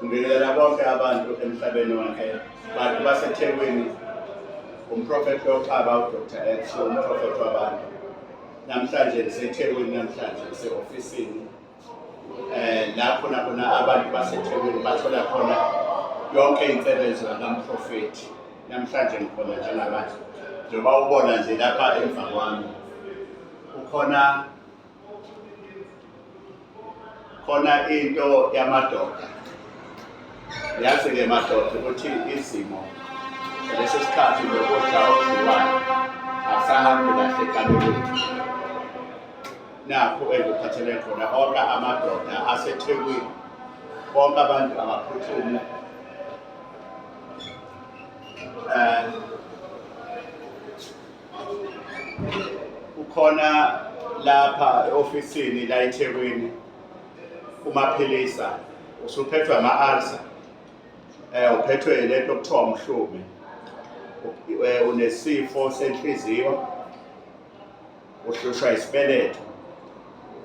Ngibingelela bonke abantu emhlabeni wonke bantu baseThekwini umprofethi loxaba uDr X umprofethi wabantu namhlanje ndiseThekwini namhlanje ndise-ofisini eh lapho nakhona abantu baseThekwini bathola khona yonke insebenzo yakamprofethi namhlanje ngikhona njengamanje njengoba ubona nje lapha emva kwami kukhona khona into yamadoda yazi-ke madoda ukuthi izimo lesi sikhathi nokudla okudliwayo akusahambi kahle kalulutho nakho engikuphathele khona onke amadoda asethekwini bonke abantu abaphuthume um Kukhona lapha e-ofisini la eThekwini umaphilisa usuphethwe ama-ulcer eh uphethwe lento okuthiwa umhlume eh, unesifo senhliziyo uhlushwa isibeletho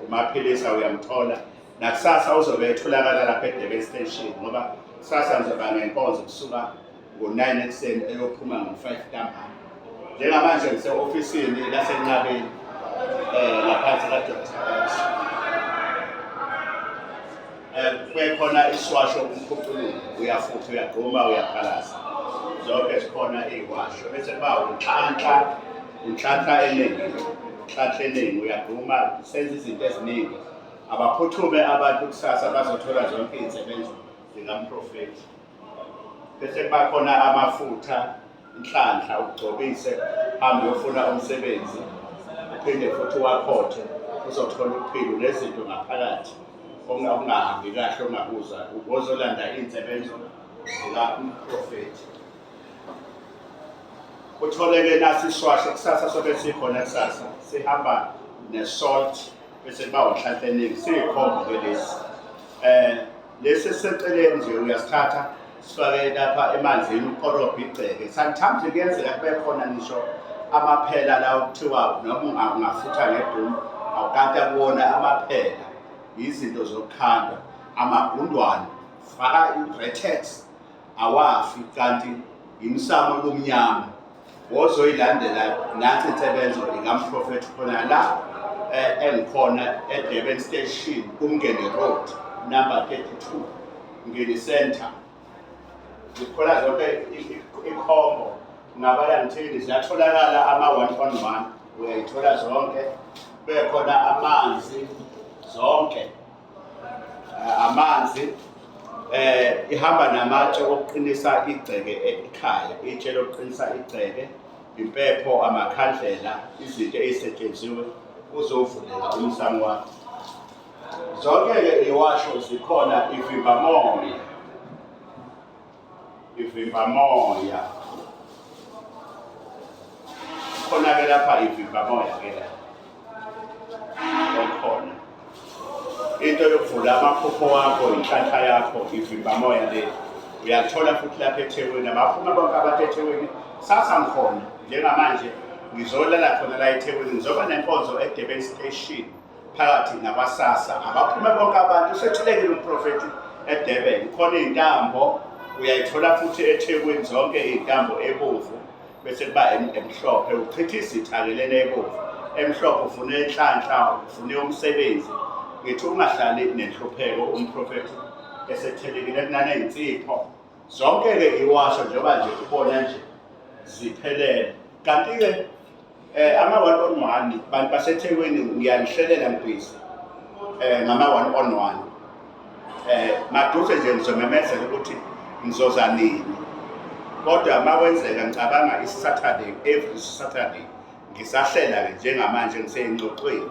umaphilisa uyamthola nakusasa uzobe etholakala lapha eDurban Station ngoba kusasa ngizoba ngenkonzo kusuka ngo-9 ekuseni eyophuma ngo-5 ntambama njengamanje ngise-ofisini lasenqabeni um laphansi kadoktax um kubekhona isiwasho umkhuqululo uyafutha uyagquma uyaphalaza zonke zikhona iyiwasho bese kuba unhlanhla unhlanhla eningi unhlanhla eningi uyagquma senza izinto eziningi abaphuthume abantu kusasa bazothola zonke iy'nsebenzo zikamprofethi bese kuba khona amafutha inhlanhla ugcobise hambe uyofuna umsebenzi uphinde futhi wakhothe uzothola uphilo nezinto ngaphakathi okungahambi kahle ongabuza ubozolanda iy'nsebenzo zikaprofethi kutholeke nasi isishwasho kusasa sobe sikhona kusasa sihamba nesalt bese kuba unhlanhla eningi siyikhombo ke lesi um lesi esiseceleni nje uyasithatha sifake lapha emanzini ukorobha igceke sometimes kuyenzeka kube khona ngisho amaphela la okuthiwa noma ungafutha ngebhumi awukata kuwona amaphela yizinto zokukhanda amagundwane faka i-bretex awafi kanti yimsamo lomnyama wozoyilandela nathi insebenzo ikamprofethi khona la eh, engikhona edurban station kumngene road number 32 ngeni center ngikhona zonke ikhombo ngabala ngithini ziyatholakala ama-one on one uyayithola zonke bekhona amanzi zonke eh, amanzi eh ihamba namatshe okuqinisa igceke ekhaya itshe lokuqinisa igceke impepho amakhandlela izinto ezisetshenziwe uzovuleka umsamo wakho zonke-ke iwasho zikhona ivimbamoya ivimba moya khona ke lapha ivimba moya ke la khona into yokuvula amaphupho wakho inhlanhla yakho ivimba moya le uyathola futhi lapha ethekwini abaphuma bonke abantu ethekwini sasa ngikhona njengamanje ngizolala khona la ethekwini ngizoba nenkonzo edeben station phakathi nakwasasa abaphume bonke abantu usethulekile umprofethi edurban khona iy'ntambo uyayithola futhi ethekwini zonke iy'ntambo ebomvu bese kuba emhlophe uchitha izitha-ke lena ebomvu emhlophe ufune enhlanhla ufune umsebenzi ngithi ungahlali nenhlupheko umprofethi esethelekile kunaney'nsipho Zonke-ke ngiwasho njengoba nje ubona nje ziphelele. Kanti-ke eh ama-one on one bantu basethekwini ngiyanihlelela ngibhizi um eh, ngama-one on one eh maduze nje ngizomemezela ukuthi ngizoza nini kodwa uma kwenzeka ngicabanga isaturday every saturday ngisahlela-ke njengamanje ngiseyingxoxweni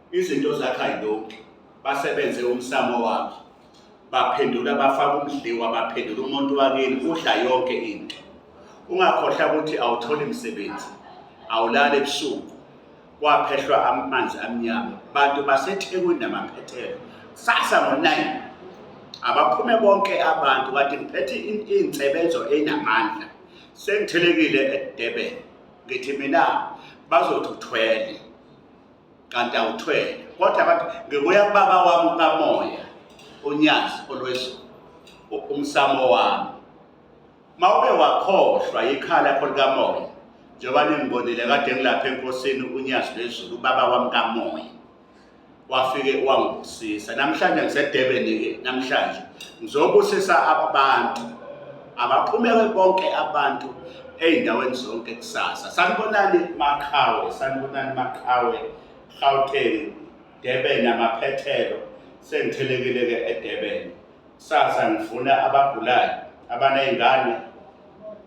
Izinto zakhe ayilungi, basebenze umsamo wakhe, baphendula bafaka umdliwa, baphendula umuntu wakini, udla yonke into. Ungakhohlwa ukuthi awutholi msebenzi, awulali ebusuku, kwaphehlwa amanzi amnyama. Bantu baseThekwini namaphethelo, kusasa ngo-nine abaphume bonke abantu kade ngiphethe iy'nsebenzo ey'namandla sengithelekile edurban ngithi mina bazothi uthwele kanti awuthwele kodwa abantu ngibuya kubaba wami kamoya unyazi olwezulu umsamo wami mawube wakhohlwa ikhala yakho likamoya njengoba ningibonile kade ngilapha enkosini unyazi lwezulu ubaba wami kamoya wafike wangibusisa namhlanje ngisedebeni-ke namhlanje ngizobusisa abantu Abaphumele bonke abantu ezindaweni zonke kusasa. Sanibonani Maqhawe, sanibonani Maqhawe, Gauteng, Durban amaphethelo. Sengithelekile ke eDurban. Kusasa ngifuna abagulayo, abanezingane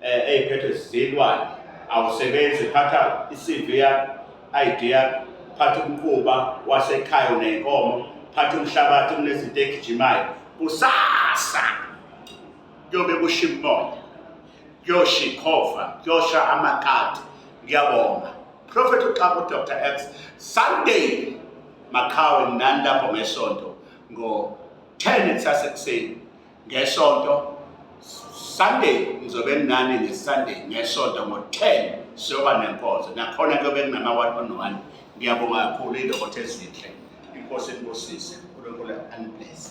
eh eziphethwe zilwane. Awusebenzi phatha iCV yakho, ID yakho, phatha umquba wasekhaya nenkomo, phatha umhlabathi kunezinto egijimayo. Kusasa kuyobe kusho imimoya kuyosha ikhova kuyosha amakati ngiyabonga prophet uxaba udr x sunday makhawe nani lapho ngesonto ngo-10 kusasa ekuseni ngesonto sunday ngizobe nginani ngesunday ngesonto ngo-10 siyoba nenkonzo nakhona kuyobe kunama-one on one ngiyabonga kakhulu iy'lokotho ezinhle inkosi enibusise unkulunkulu aniblese